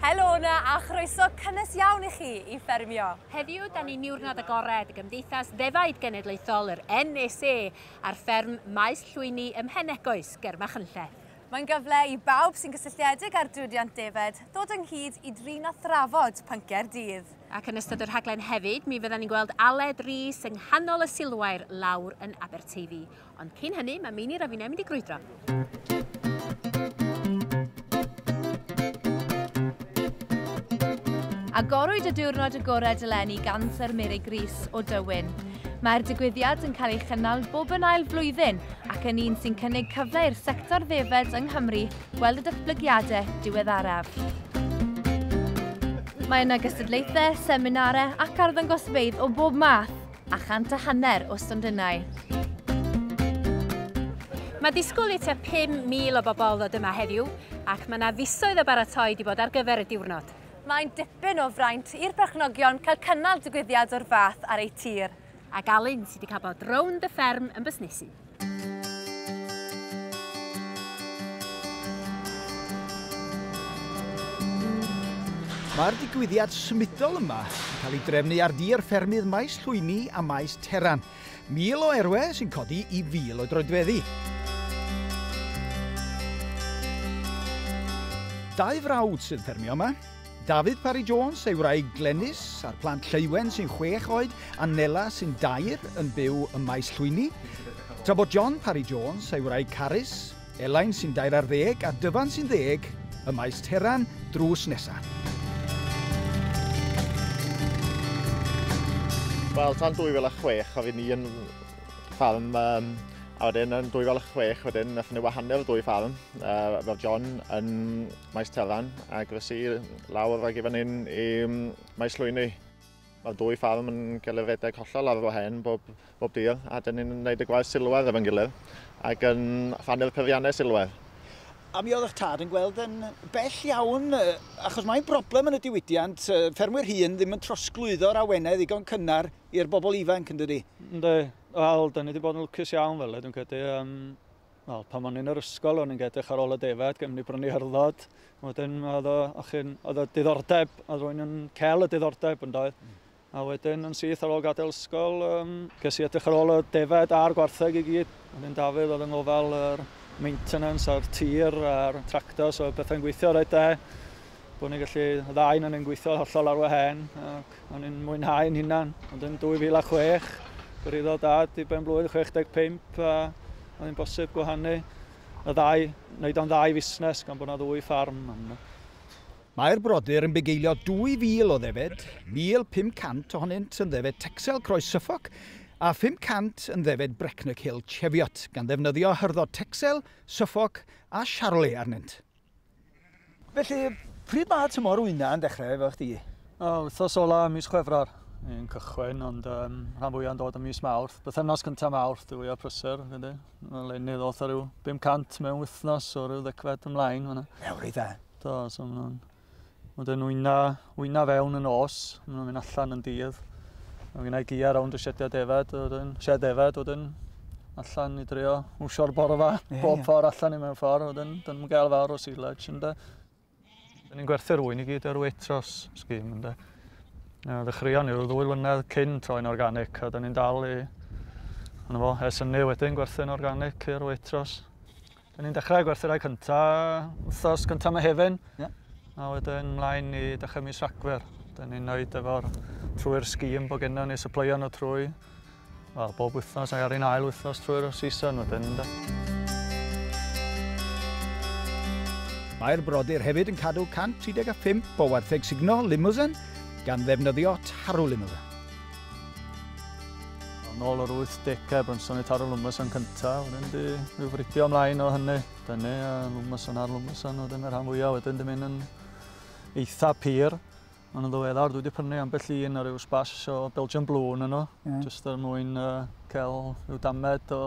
Helo 'na a chroeso cynnes iawn i chi i Ffermio! Heddiw, dan ni'n niwrnod agored y Gymdeithas Ddefaid Genedlaethol, yr NSA, ar fferm Maes Llwyni ym Mhenegoes, ger Machynlleth. Mae'n gyfle i bawb sy'n gysylltiedig â'r diwydiant defaid ddod ynghyd i drin a thrafod pynciau'r dydd. Ac yn ystod y rhaglen hefyd, mi fyddan ni'n gweld Aled Rees yng nghanol y silwair lawr yn Aberteifi. Ond cyn hynny, mae Meinir a finnau'n mynd i grwydro. Agorwyd y diwrnod agored eleni gan Sir Mary Gris o Dywyn. Mae'r digwyddiad yn cael ei chynnal bob yn ail flwyddyn ac yn un sy'n cynnig cyfle i'r sector ddefed yng Nghymru weld y datblygiadau diweddaraf. Mae yna gystadlaethau, seminarau ac arddangosfeydd o bob math. a chant a hanner o stondinau. Mae disgwyl i tua 5,000 o bobl ddod yma heddiw ac mae yna fisoedd o baratoi wedi bod ar gyfer y diwrnod. Mae'n dipyn o fraint i'r perchnogion cael cynnal digwyddiad o'r fath ar eu tir. Ac Alun sydd wedi cael bod rownd y fferm yn busnesu. Mae'r digwyddiad symudol yma yn cael ei drefnu ar dir ffermydd Maes Llwyni a Maes Teran. Mil o erwe sy'n codi i fil o droedfeddi. Dau frawd sy'n ffermio yma, Dafydd Parry Jones, ei wraig Glenys, a'r plant Lleuwen sy'n chwech oed a Nela sy'n dair yn byw ym Maes Llwyni, tra bod John Parry Jones, ei wraig Carys, Elain sy'n dair ar ddeg a Dyfan sy'n ddeg ym Maes Teran drws nesa. Wel, tan 2006 oedd ni yn ffarm um, A wedyn yn 2006, wedyn nath ni wahanol dwy ffarm, uh, fel John yn Maes Telan ac felly lawr ag i fan hyn i Maes Llwyni. Mae'r dwy ffarm yn cael ei redeg hollol ar fo hen bob, bob dydd a dyn ni'n gwneud y gwaith silwedd efo'n gilydd ac yn ffanu'r peiriannau silwedd. A mi oedd eich tad yn gweld yn bell iawn, achos mae'n broblem yn y diwydiant, ffermwyr hŷn ddim yn trosglwyddo'r awenau ddigon cynnar i'r bobl ifanc, yn dydy? Ynddi, wel, da ni wedi bod yn lwcus iawn fel e, dwi'n credu. Um, wel, pan o'n i'n yr ysgol, o'n i'n edrych ar ôl y defaid, gymryd bron i hyrddod. Wedyn, oedd o, oedd o diddordeb, oedd rwy'n yn cael y diddordeb yn doedd. Mm. A wedyn yn syth ar ôl gadael ysgol, um, ges i edrych ar ôl y defaid a'r gwartheg i gyd. Ond yn Dafydd oedd yn ngofal yr maintenance a'r tir a'r tractor, so bethau'n gweithio rhaid da. Bod ni'n gallu, y ddau yn yn gweithio hollol ar wahen. Ac O'n i'n mwynhau yn hunan, ond yn 2006, gyrhaeddodd dad i ben blwydd 65 a oedd hi'n bosib gwahanu y ddau, wneud o'n ddau fusnes gan bod yna ddwy ffarm. Mae'r brodyr yn bugeilio 2,000 o ddefed, 1,500 ohonynt yn ddefed Texel Croes Suffolk a 500 yn ddefed Brecknock Hill Cheviot, gan ddefnyddio hyrddo Texel, Suffolk a Charolais arnynt. Felly, pryd mae tymor wyna yn dechrau efo chdi? O, wythnos ola mis Chwefror yn cychwyn, ond um, rhan fwyaf yn dod yn mis Mawrth. Bythefnos cyntaf Mawrth, dwi fwyaf prysur, ydy. Mae'n lenydd oedd rhyw 500 mewn wythnos o ryw ddecfed ymlaen. Ew, rydda. Do, so mae'n Ond yn wyna, wyna fewn yn os, maen nhw'n mynd allan yn dydd. Mae gen i gia rownd y siediau defed, wedyn, sied defed, wedyn, allan i drio wsio'r borfa, yeah, bob yeah. ffordd allan i mewn ffordd, wedyn, dyn nhw'n gael fawr o silage, ynddo. Dyn ni'n gwerthu'r wy'n i gyd ar wetros sgim, ynddo. Uh, ddechreuon ni'r ddwy lynedd cyn troi'n organic, a dyn ni'n dal i, yna fo, ers ynnu wedyn gwerthu'n organic i'r wetros. Da ni'n dechrau gwerthyrau cyntaf wythnos gyntaf Mehefin. Yeah. A wedyn mlaen i dechrau mis Rhagfyr. Da ni'n neud efo'r trwy'r sgîm bod genno ni supplyio nhw trwy well, bob wythnos ac ar un ail wythnos trwy'r season wedyn. Da. Mae'r brodyr hefyd yn cadw 135 o wartheg sugno Limousin gan ddefnyddio tarw Limousin. Yn ôl yr 80au, Brunson i taro Lwmys yn cyntaf, wedyn di rhyw fridio ymlaen o hynny. Dyny, a Lwmys yn ar Lwmys yn wedyn y rhan fwyaf, wedyn di mynd yn eitha pur. Ond yn ddiweddar, dwi wedi prynu ambell un ar ryw sbash o Belgian Blue yn yno, yeah. jyst er mwyn uh, cael rhyw damed o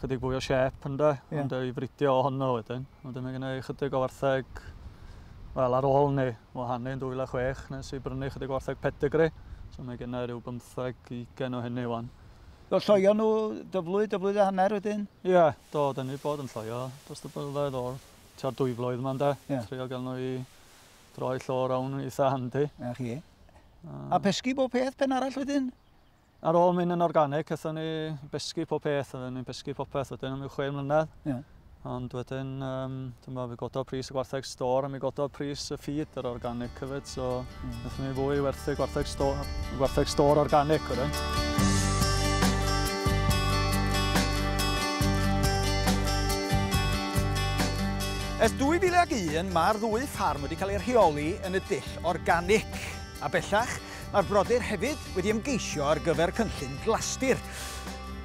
chydig fwy o siep ynda, yeah. ond ei fridio o honno wedyn. Wedyn mae gen i ychydig o wartheg, wel ar ôl ni wahanu yn 2006 nes i brynu ychydig o wartheg pedigree, so mae gen i rhyw bymtheg i ugain o hynny wan. Do lloio nhw dyflwy, dyflwydd a hanner wedyn? Ie, do, da ni bod yn lloio dros y blynyddoedd o'r tua dwy flwydd yma ynde? Ie. Trio gael nhw i droi llor awn yn eitha handi. A chi. A pesgi bob peth, pen arall wedyn? Ar ôl mynd yn organig, aethon ni besgu pob peth, oedden ni'n besgu popeth wedyn am yw chwe mlynedd. Yeah. Ond wedyn, um, dyma, fi gododd pris y gwartheg stor a mi gododd pris y ffid yr organic hefyd, so mm. wnaethon ni fwy werthu gwartheg stor, gwartheg stor organic wedyn. Ers 2001, mae'r ddwy ffarm wedi cael ei rheoli yn y dull organic. A bellach, Mae'r brodyr hefyd wedi ymgeisio ar gyfer cynllun Glastir.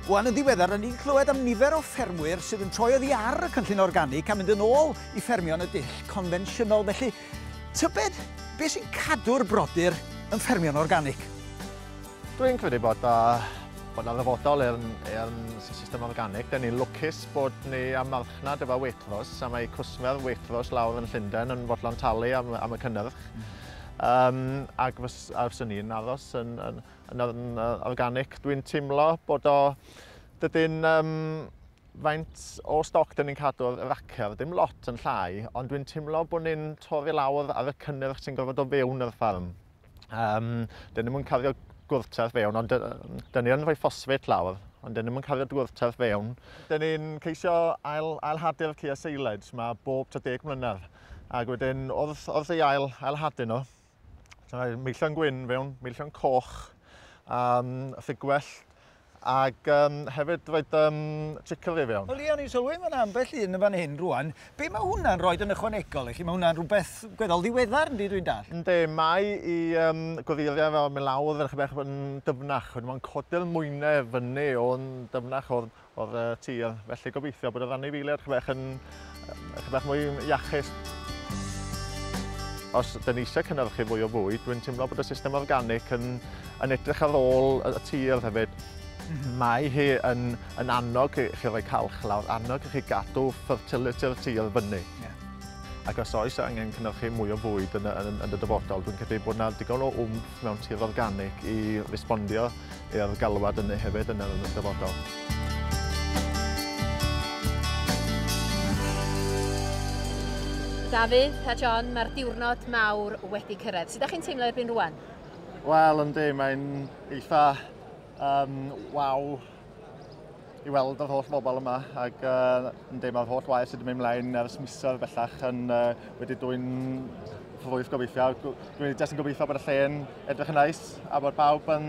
Wan yn ddiweddar, rydyn ni'n clywed am nifer o ffermwyr sydd yn troi oddi ar y cynllun organic a mynd yn ôl i ffermio yn y dull confensiynol. Felly, tybed beth sy'n cadw'r brodyr yn ffermio'n organic? Dwi'n credu bod yna bod yna ddyfodol i'r system organic. Dyn ni'n lwcus bod ni am marchnad efo Waitrose a mae cwsmer Waitrose lawr yn Llundain yn fodlon talu am, am y cynnyrch. Mm. Um, ac fys, a fyswn i'n aros yn, yn, yn, yn organic. Dwi'n teimlo bod o... Dydyn... Um, faint o stoc dyn ni'n cadw ar racer, dim lot yn llai, ond dwi'n teimlo bod ni'n torri lawr ar y cynnyrch sy'n gorfod o fewn yr ffarm. Um, dyn ni'n mwyn cario gwrtaith fewn, ond dyn ni'n rhoi ffosfet lawr, ond dyn ni'n mwyn cario gwrtaith fewn. Dyn ni'n ceisio ail, ail hadu'r cea seiled mae bob 30 mlynedd. Ac wedyn, wrth, wrth ei ail, ail hadu nhw, mae meillion gwyn fewn, meillion coch, um, ffugwell, ac um, hefyd roed um, chicory fewn. Wel, Ian, ni'n sylwi mae'n ambell un yn fan hyn rwan. Be mae hwnna'n rhoi yn ychwanegol i chi? Mae hwnna'n rhywbeth gweddol ddiweddar, ynddi, dwi'n dall? Ynddi, mae i um, goddiliau fel melawdd yn chyfech yn dyfnach. Mae'n codi'r mwynau fyny o'n dyfnach o'r, o'r tir, felly gobeithio bod yr anifeiliaid chyfech bach yn chyfech bach mwy iachus. Os dyn ni eisiau cynnyrchu fwy o fwyd, dwi'n teimlo bod y system organic yn, yn edrych ar ôl y tir hefyd. Mhm. Mae hi yn, yn annog i chi roi calch lawr, annog i chi gadw fertility'r tir fyny. Yeah. Ac os oes angen cynnyrchu mwy o fwyd yn, yn, yn y dyfodol, dwi'n credu bod yna digon o wmff mewn tir organig i respondio i'r galwad yna hefyd yn yr dyfodol. Dafydd a John, mae'r diwrnod mawr wedi cyrraedd. Sut ydych chi'n teimlo erbyn rwan? Wel, yndi, mae'n eitha um, waw i weld yr holl bobl yma ac uh, ynddi, mae'r holl waith sydd wedi mynd mlaen ers misoedd bellach yn uh, wedi dwy'n ffrwyth gobeithio. Dwi'n jyst yn gobeithio bod y lle'n edrych yn neis a bod pawb yn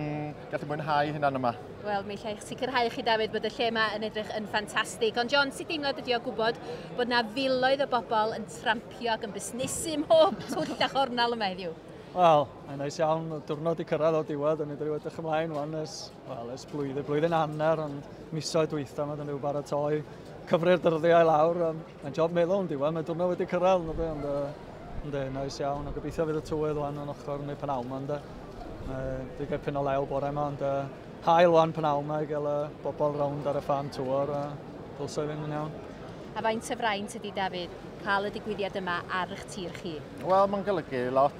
gallu mwynhau hynna'n yma. Wel, mi allai sicrhau chi, David, bod y lle yma yn edrych yn ffantastig. Ond John, sut deimlad ydi o gwybod bod yna filoedd o bobl yn trampio ac yn busnesu mhob twll a chornal yma heddiw? Wel, mae'n neis iawn. Diwrnod i cyrraedd o diwedd, a ni wedi edrych ymlaen wan ers Wel, ers blwyddyn, blwyddyn hanner, ond misoedd dwytha mae dyn nhw baratoi cyfri'r dyddiau lawr. Um, mae'n job meddwl yn diwedd, mae diwrnod wedi cyrraedd, no be, ond uh, ynddi, nice iawn. A gobeithio fydd y tywydd wan o'n ochr neu pan awma, ynddi. Uh, di gael pyn o lew bore yma, ond uh, hael wan pan awma i gael uh, bobl rownd ar y fan tŵr, a uh, dylsau fynd yn iawn. A faint o fraint ydy, Dafydd, cael y digwyddiad yma ar eich tir chi? Wel, mae'n golygu lot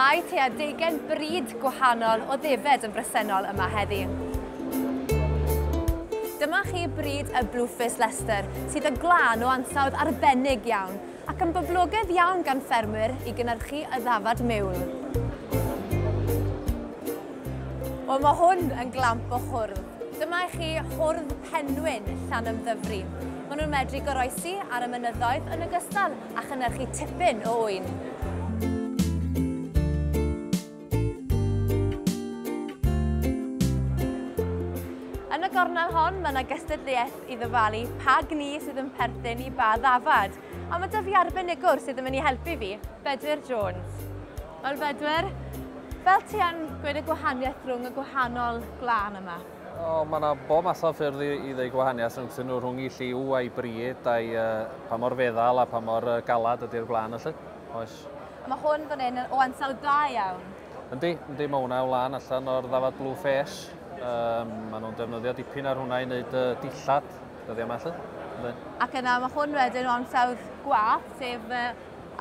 Mae tua deugain brid gwahanol o ddefed yn bresennol yma heddi. Dyma chi brid y Blueface Leicester, sydd yn glân o ansawdd arbennig iawn, ac yn boblogedd iawn gan ffermwyr i gynnyrchu y ddafad mewl. Wel, mae hwn yn glamp o hwrdd. Dyma i chi hwrdd penwyn Llanymddyfri. Maen nhw'n medru goroesi ar y mynyddoedd yn ogystal a chynnyrchu tipyn o ŵyn. gornel hon, mae yna gystadleuaeth i ddyfalu pa gni sydd yn perthyn i ba ddafad. A mae dyfu arbenigwr sydd yn mynd i helpu fi, Bedwyr Jones. Wel Bedwyr, fel ti yn gweud y gwahaniaeth rhwng y gwahanol glân yma? O, mae yna bob math o ffyrdd i, i ddweud gwahaniaeth rhwngthyn nhw, rhwng i lliw a'i bryd, a'i uh, pa mor feddal a pa mor uh, galad ydy'r gwlân felly. Oes. Mae hwn fan hyn o ansawdd da iawn. Yndi, yndi, mae hwnna o lan allan o'r ddafad blue face. Um, mae nhw'n defnyddio dipyn ar hwnna i wneud uh, dillad, dyddiau yma felly. Yndi. Ac yna mae hwn wedyn o ansawdd gwath, sef uh,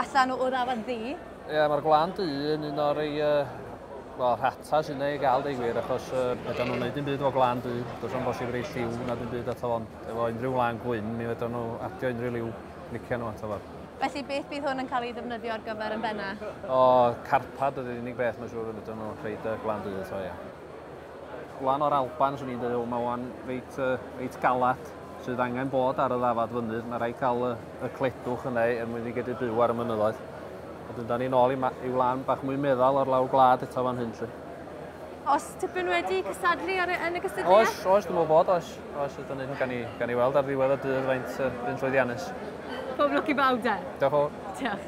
allan o'r ddafad ddi. Ie, mae'r Gwlân Du yn un o'r ei, uh, rhata sy'n ei gael deg wir, achos uh, fedra nhw'n gwneud dim byd o Gwlân Du, does o'n bosib rei lliw na dim byd ato fo'n efo unrhyw wlân gwyn, mi fedra nhw adio unrhyw liw licio nhw ato fo. Felly beth bydd hwn yn cael ei ddefnyddio ar gyfer yn benna? O, carpad ydy'r unig beth mae'n siŵr y fedra nhw rhaid y Gwlân Du ato, ie. Lan o'r Alban, swn i'n dweud, o, mae o'n reit, uh, reit galad sydd angen bod ar y ddafad fynydd. Mae rhaid cael y, y cledwch yna er mwyn i gedi byw ar y mynyddoedd. Wedyn, da ni'n ôl i, i wlan bach mwy meddal o'r lawr gwlad eto fan hyn, lle. Os tipyn wedi cysadlu ar, yn y gysylltiad? Oes, oes, dwi'n meddwl bod, oes. Oes, ydyn ni'n gan i, gan i weld ar ddiwedd y dydd faint uh, yn llwyddiannus. Pob lwc i bawb, da. Diolch o. Diolch.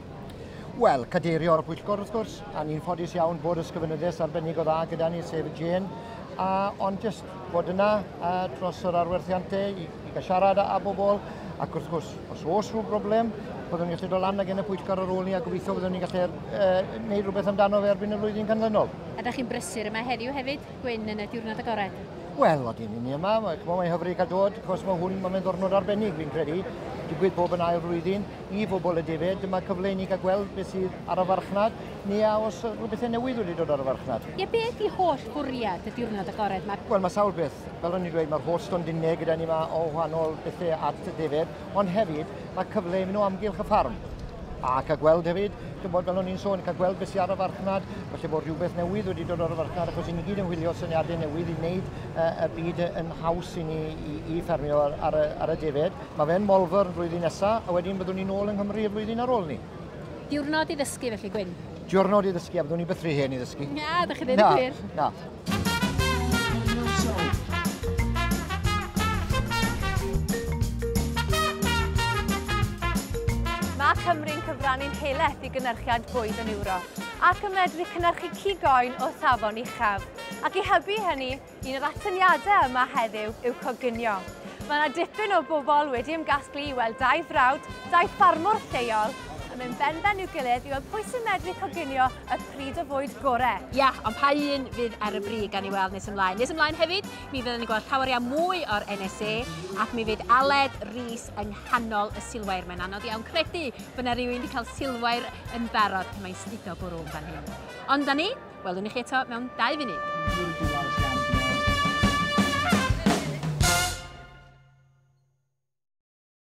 Wel, cadeirio'r pwyllgor wrth gwrs, a ni'n ffodus iawn bod ysgrifenyddes arbennig o dda gyda ni, sef y Jane, a, ond jyst bod yna a, dros yr arwerthiantau i, i gael siarad â bobl, ac wrth gwrs, os oes rhyw broblem, byddwn ni'n gallu dod lan ag yn y pwyllgor ar ôl ni a gobeithio byddwn ni'n gallu uh, neud rhywbeth amdano fe erbyn y flwyddyn canlynol. A da chi'n brysur yma heddiw hefyd, Gwyn, yn y diwrnod agored? Wel, o dyn ni yma, mae'n hyfryd cael dod, cos mae hwn, mae'n ddornod arbennig, fi'n credu, digwydd bob yn ail flwyddyn, i fobl y defaid, dyma cyfle i ni gael gweld beth sydd ar y farchnad, neu a os o bethau newydd wedi dod ar y farchnad. Ie, beth i holl fwriad y diwrnod agored yma? Wel, mae sawl beth. Fel o'n i'n dweud, mae'r holl stondinau gyda ni yma o wahanol bethau at y defaid, ond hefyd mae cyfle i mynd o amgylch y ffarm a cael gweld hefyd, dwi'n bod fel o'n i'n sôn, cael gweld beth sy'n ar y farchnad, felly bod rhywbeth newydd wedi dod ar y farchnad, achos i ni gyd yn wylio syniadau newydd i wneud uh, y byd yn haws i ni i, i ffermio ar, ar, y, ar y defaid. Mae fe'n Molfwr flwyddyn nesa, a wedyn byddwn ni nôl yng Nghymru y flwyddyn ar ôl ni. Diwrnod i ddysgu felly, Gwyn? Diwrnod i ddysgu, a byddwn ni byth rhy hen i ddysgu. Na, da chi ddim yn gwir. Na, na. Mae Cymru'n cyfrannu'n heleth i gynnyrchiad bwyd yn Ewrop ac yn medru cynnyrchu cig oen o safon uchaf. Ac i hybu hynny, Un o'r atyniadau yma heddiw yw coginio. Mae yna dipyn o bobl wedi ymgasglu i weld dau frawd, dau ffarmwr lleol, yn mynd benben i'w gilydd i weld pwy sy'n medru coginio y pryd o fwyd gore. Ie, ond pa un fydd ar y brig, gawn ni weld nes ymlaen. Nes ymlaen hefyd, mi fydden ni'n gweld llawer iawn mwy o'r NSA, ac mi fydd Aled Rees yng nghanol y silwair. Mae'n anodd iawn credu bod yna rhywun wedi cael silwair yn barod pan mae'n studo bwrw yn fan hyn. Ond 'na ni. Welwn i chi eto mewn dau funud.